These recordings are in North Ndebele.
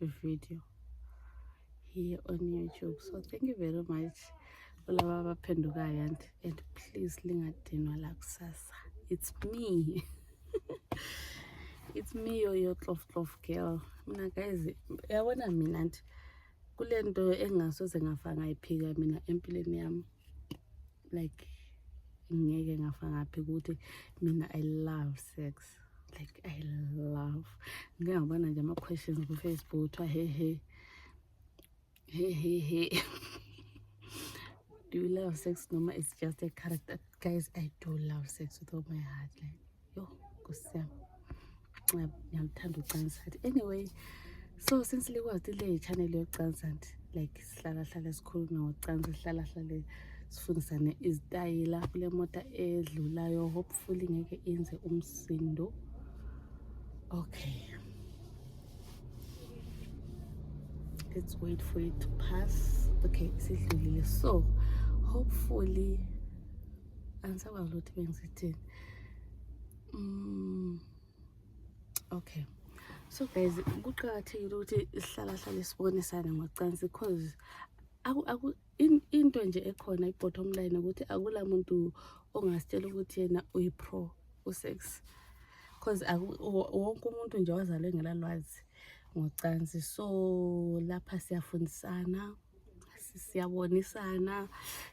video here on youtube so thank you very much kulaba abaphendukayo and, and please lingadinwa lakusasa it's me it's me yoyo tlof tlof girl mina guys yabona mina nti kule nto engingasoze ngafa ngayiphika mina empilweni yami like ngeke ngafa ngaphi ukuthi mina i love sex like i love ngike ngabona nje ama-questions kufacebook kuthiwa hehe hehehe do you love sex noma it's just a character guys i do love sex with all my heart like yho nkosi yam ndiyamthanda ucansa athi anyway so since likwazi le channel yokucansa nti like sihlalahlale sikhulume ngokucansa sihlalahlale sifundisane izitayela kule mota edlulayo hopefully ngeke inze umsindo okay let's wait for it to pass okay sidlulile so hopefully Ansa kwa vlot ben ziti. Mm. Okay. So guys, kuqakathekile ukuthi sihlala hlale sibonisane ngocansi because aku aku into nje ekhona ibottom line ukuthi akula muntu ongasitshela ukuthi yena uyi pro u sex. Because wonke umuntu nje wazalwe ngelalwazi ngocansi. So lapha siyafundisana. siyabonisana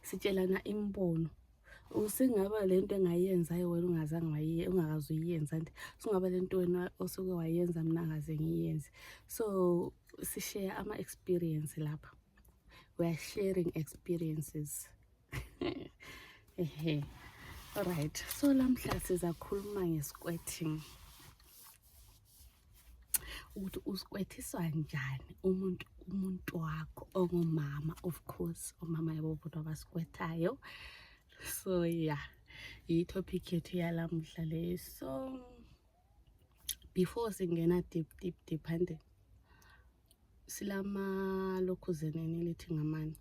sitshelana imbono usingaba lento engayenzayo wena ungazange ungakaze uyiyenza nti singaba lento wena osuke wayenza mna ngaze ngiyenze so sishare ama-experience lapha we are sharing experiences ehe right so lamhla sizakhuluma nge-squirting ukuthi usikwethisa njani umuntu umuntu wakho ongumama of course omama yabo bodwa abasikwethayo so yeah yi-topic yethu yalamuhla leyo so before singena deep deep deep hande silamalokhuzeni elithi ngamani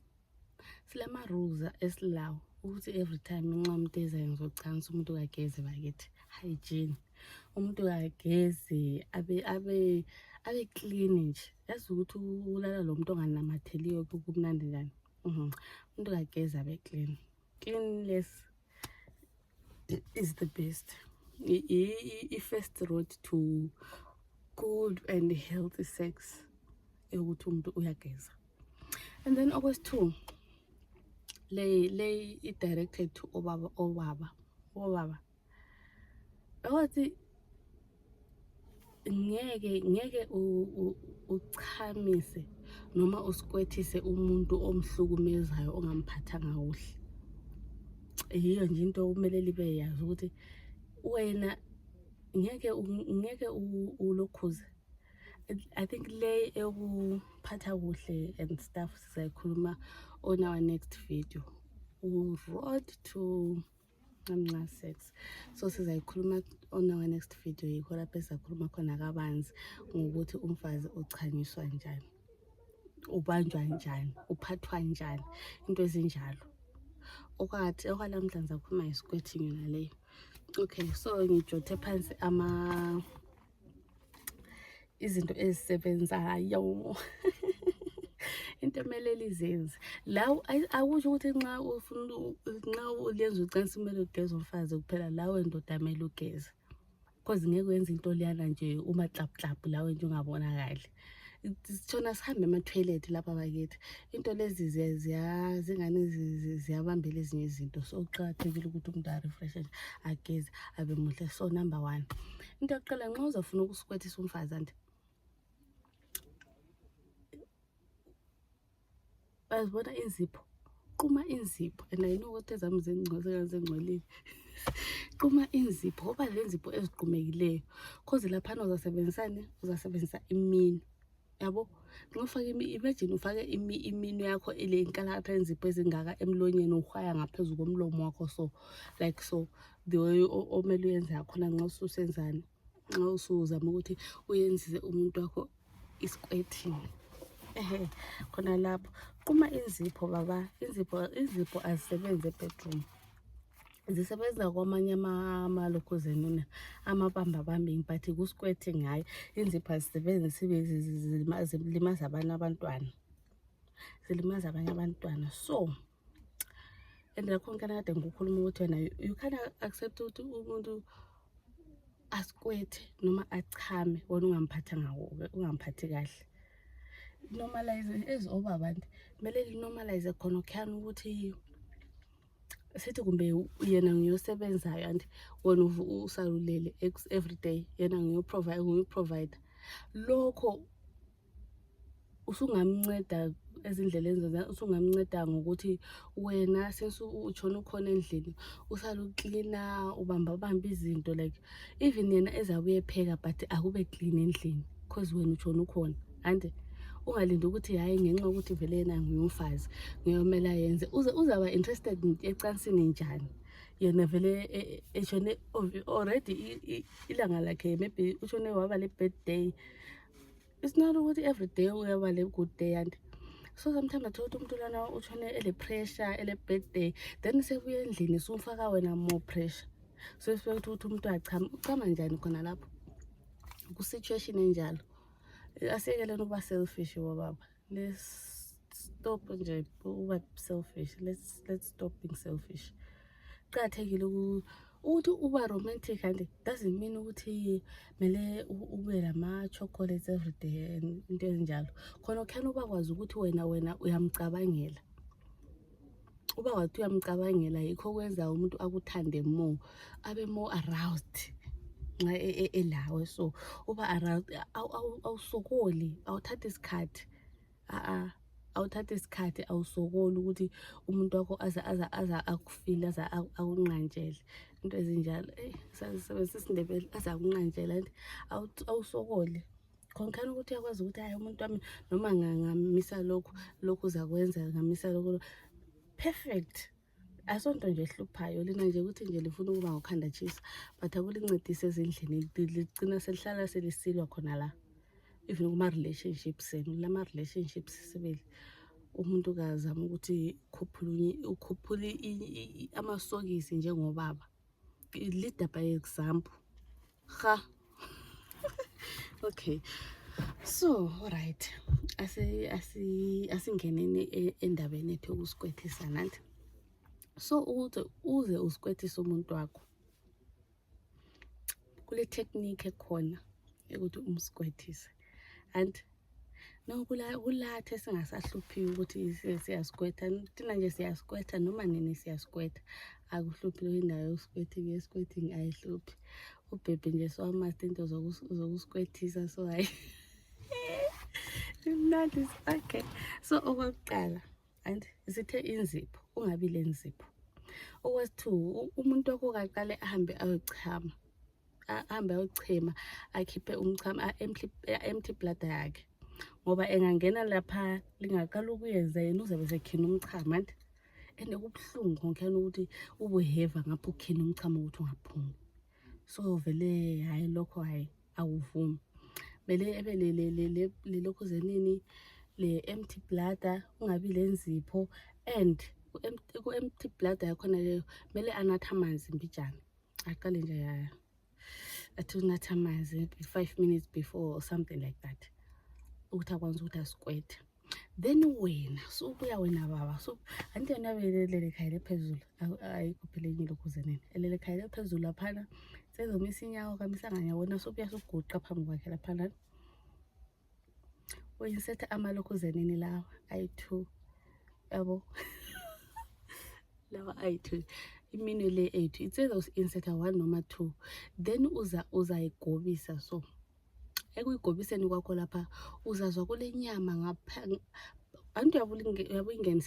silamaruza esilawo ukuthi every time nxa umuntu ezayo ngizocansa umuntu kageze bakithi hygiene umuntu kageze abe abe abe clean nje yazi ukuthi ulala lo muntu onganamatheliyo kumnandi njani umuntu kageze abe clean Skinless is the best. I-first road to good and healthy sex ukuthi umuntu uyageza and then okwesithu le le i-directed to obaba obaba obaba Awathi ngeke ngeke uchamise noma usikwethise umuntu omhlukumezayo ongamphathanga kuhle yiyo nje into okumele libe yazi ukuthi wena ngeke ngeke ulokhuze i think le eyokuphatha kuhle and stuff sizayikhuluma on our next video road to amncane sex so sizayikhuluma on our next video yikho lapho esizakhuluma khona kabanzi ngokuthi umfazi uchanyiswa njani ubanjwa njani uphathwa njani into ezinjalo okwathi okwalamhla ngizakhuluma ngesikwethinyo naleyo okay so ngijothe phansi ama izinto ezisebenzayo into emele lizenze la akusho ukuthi nxa ufuna nxa ulenza ucansi kumele ugeze umfazi kuphela lawe ndoda mele ugeze cause ngeke wenza into leyana nje umaxapuxaphu lawe nje ungabonakali sitshona sihambe ama-toilet lapha bakithi into lezi zingani ziyabambela ezinye izinto so kuqakathekile ukuthi umuntu arefreshe nje ageze abe muhle so number one into yokuqala nxa uzafuna ukusikwethisa umfazi ande bazibona inzipho quma inzipho and i know ukuthi ezami zengcwelile quma inzipho ngoba lenzipho eziqumekileyo cause laphana uzasebenzisani uzasebenzisa imini yabo nofake imagine ufake imino yakho ile inkalakatha enzipho ezingaka emlonyeni uhwaya ngaphezu komlomo wakho so like so the way omele uyenze yakhona nxa ususenzani nxa usuzama ukuthi uyenzise umuntu wakho isikwethini ehe khona lapho quma inzipho baba inzipho inzipho azisebenzi ebedroom zisebenza kwamanye amalokhuzeni amabamba bambini but kusikwethe ngayo inzipho azisebenzi sibe zilimaza abanye abantwana zilimaza abanye abantwana so and nakhona kana kade ngikukhuluma ukuthi wena you can accept ukuthi umuntu asikwethe noma achame wona ungamphatha ngawo ungamphathi kahle normalize as obaba nti kumele linormalize khona khani ukuthi sithi kumbe yena ngiyosebenzayo and wena usalulele every day yena ngiyoprovider lokho usungamnceda ezindleleni zona usungamnceda ngokuthi wena since utshona ukhona endlini usale uklina ubamba bamba izinto like even yena eza kuyepheka but akube clean endlini because wena utshona ukhona ande ungalindi ukuthi hhayi ngenxa yokuthi vele yena ngiyumfazi ngiyomela yenze uze uzaba interested ecansini njani yena vele e, e, eshone already ilanga lakhe maybe ushone waba le-birthday it's not ukuthi every day uyaba le good day and so sometimes athola ukuthi umuntu lana utshone ele-pressure ele-birthday then sebuya endlini sumfaka wena more pressure so sifike ukuthi ukuthi umuntu achama uchama njani khona lapho kwi-situation enjalo asiyekeleni ukuba selfish bobaba let's stop nje ukuba selfish let's let's stop being selfish kuqakathekile ukuthi uba romantic and doesn't mean ukuthi mele ube lama chocolates every day into ezinjalo khona ukhani ubakwazi ukuthi wena wena uyamcabangela uba wathi uyamcabangela yikho kwenza umuntu akuthande more abe more aroused nxa e, e, elawe so uba aroused awusokoli awuthathi isikhathi a-a awuthathi isikhathi awusokoli ukuthi umuntu wakho aze aza aza akufile aze akunqantshele into ezinjalo eyi sazisebenzisa isindebele aze akunqantshele and awusokoli khonkani ukuthi uyakwazi ukuthi hayi umuntu wami noma ngamisa lokhu lokhu zakwenza ngamisa lokhu perfect asonto nje ehluphayo lina nje ukuthi nje lifuna ukuba ngokhanda tshisa but akulincedise ezindlini ligcina selihlala selisilwa khona la even kuma-relationship senu lama-relationship sisibili umuntu kazama ukuthi ukhuphule amasokisi njengobaba leader by example ha okay so right asingeneni e, endabeni ethu ukusikwethisa nanti so ukuze uze usikwethise umuntu wakho kule technique ekhona yokuthi umsikwethise and no kulatha esingasahluphiyo ukuthi siyasikwetha thina nje siyasikwetha noma nini siyasikwetha akuhluphi leyo indawo yokusikwething esikwething ayihluphi ubhebhi nje sowamasta into zokusikwethisa so hayi imnandi sakhe so okwakuqala and sithe inzipho ungabi le nzipho okwesi-two umuntu okukaqale ahambe ayochama ahambe ayochema akhiphe umchamo empty bladder yakhe ngoba engangena lapha lingaqala ukuyenza yena uzabe sekhina umchamo anti and kubuhlungu konkhena ukuthi ubuheva ngapho ukhina umchamo ukuthi ungaphumi so vele hhayi lokho hhayi akuvumi mele ebe lelokhu zenini le-empty bladder ungabi le nzipho and ku-empty bladder yakhona leyo kumele anathe amanzi mbijana aqale nje athi unatha amanzi five minutes before or something like that ukuthi akwanisa ukuthi asikwethe then wena subuya wena baba so anti yona belelele khayela ephezulu ayikhophelenyile ukuze nini elele khayela ephezulu laphana sezomisa inyawo kamisanganya wona sobuya soguqa phambi kwakhe laphana uyisetha amalokhuzenini lawa ayi-two yabo lawa ayi-two iminwe le ethu it's either usi-insetha one noma two then uza uzayigobisa so ekuyigobiseni kwakho lapha uzazwa kule nyama ngapha antu yabuyingenise